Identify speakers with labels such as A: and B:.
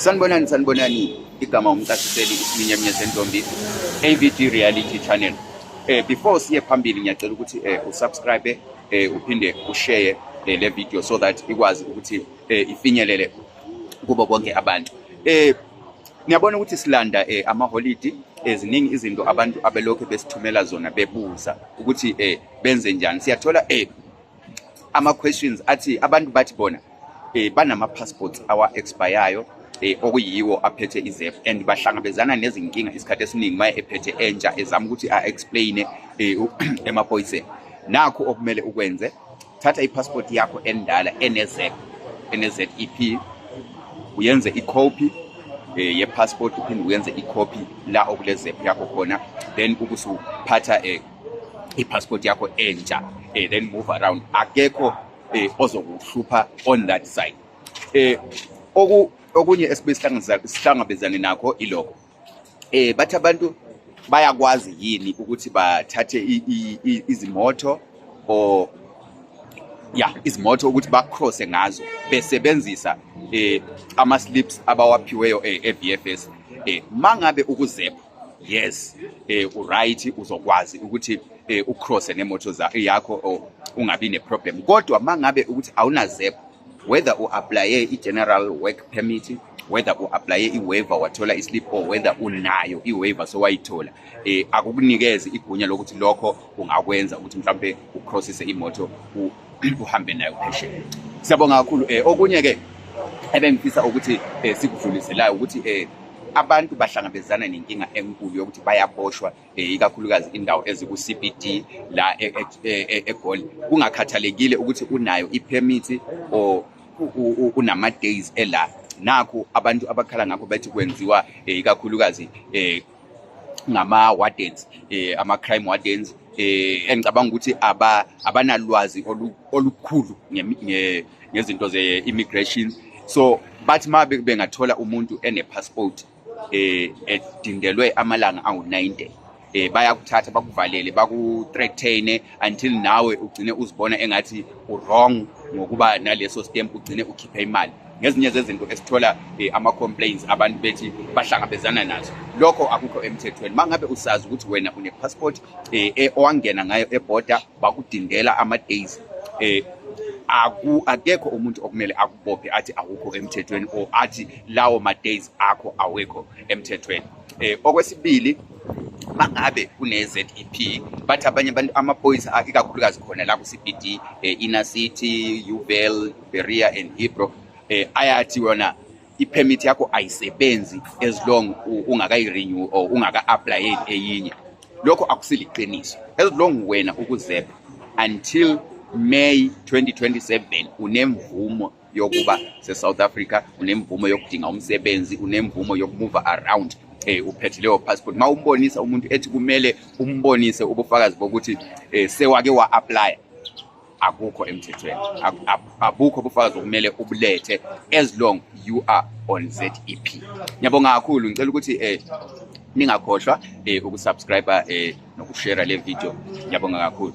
A: Sanibonani sanibonani igama umcasiseli isiminyaminya sentombi AVG Reality Channel. Eh before siye phambili ngiyacela ukuthi eh usubscribe eh uphinde ushare eh, le video so that ikwazi ukuthi eh ifinyelele kubo bonke abantu. Eh niyabona ukuthi silanda eh ama holiday eziningi izinto abantu abelokhu besithumela zona bebuza ukuthi eh benze njani. Siyathola eh ama questions athi abantu bathi bona eh banama passports awa expireyo eh okuyiwo aphethe izef and bahlangabezana nezinkinga isikhathi esiningi maye ephethe entsha ezama ukuthi a explain eh emaphoyiseni nakho okumele ukwenze thatha ipassport yakho endala NZ NZEP uyenze icopy eh ye passport uphinde uyenze icopy la okule zep yakho khona then ukusuphatha eh i-passport yakho entsha eh, then move around akekho eh, ozokuhlupha on that side eh, oku okunye esibe sihlangabezane nakho ilokho eh bathi abantu bayakwazi yini ukuthi bathathe izimoto or ya izimoto ukuthi bacrosse ngazo besebenzisa eh ama slips abawaphiweyo e-VFS eh, eh mangabe ukuzepha yes eh uright uzokwazi ukuthi eh ucross nemoto yakho oh, ungabi neproblem kodwa mangabe ukuthi awunazep whether u applye i-general work permit whether u applye i-waiver wathola i-slip or whether unayo i-waiver sowayithola eh akukunikezi igunya lokuthi lokho ungakwenza ukuthi mhlawumbe ucrossise imoto uhambe nayo phesheya siyabonga kakhulu um okunye ke ebengifisa ukuthi um sikudluliselayo ukuthi um abantu bahlangabezana nenkinga enkulu yokuthi bayaboshwa eh, ikakhulukazi indawo eziku-cbd la e, e, e, egoli kungakhathalekile ukuthi unayo iphemithi or unama-days ela nakho abantu abakhala ngakho bethi kwenziwa eh, ikakhulukazi um ngama wardens eh ama crime wardens eh engicabanga ukuthi aba abanalwazi olukhulu ngezinto ze immigration so bathi ma bengathola umuntu ene passport eh edindelwe amalanga angu90 eh bayakuthatha bakuvalele bakuthreatene until nawe ugcine uzibona engathi uwrong ngokuba naleso stamp ugcine ukhiphe imali ngezinye zezinto esithola eh, ama-complaints abantu bethi bahlangabezana nazo lokho akukho emthethweni uma ngabe usazi ukuthi wena une-passport eh, eh, owangena ngayo eboda bakudingela ama-days eh, aku akekho umuntu okumele akubophe athi awukho emthethweni or athi lawo ma-days akho awekho emthethweni eh, okwesibili mangabe kune-ZEP bathi abanye abantu amaphoyisa ikakhulukazi khona la ku-CBD eh, inner city uvel Berea and Hebrew eh ayathi wona ipermit yakho ayisebenzi as long ungakayi renew or ungaka apply eyinye lokho akusiliqiniso as long wena ukuzepha until May 2027 unemvumo yokuba seSouth Africa unemvumo yokudinga umsebenzi unemvumo yokumove around eh uphethe leyo passport mawumbonisa umuntu ethi kumele umbonise ubufakazi bokuthi eh sewake wa apply akukho emthethweni abukho ubufakazi okumele ubulethe as long you are on zep ngiyabonga kakhulu ngicela ukuthi um ningakhohlwa um ukusubscribe um nokushera le video ngiyabonga kakhulu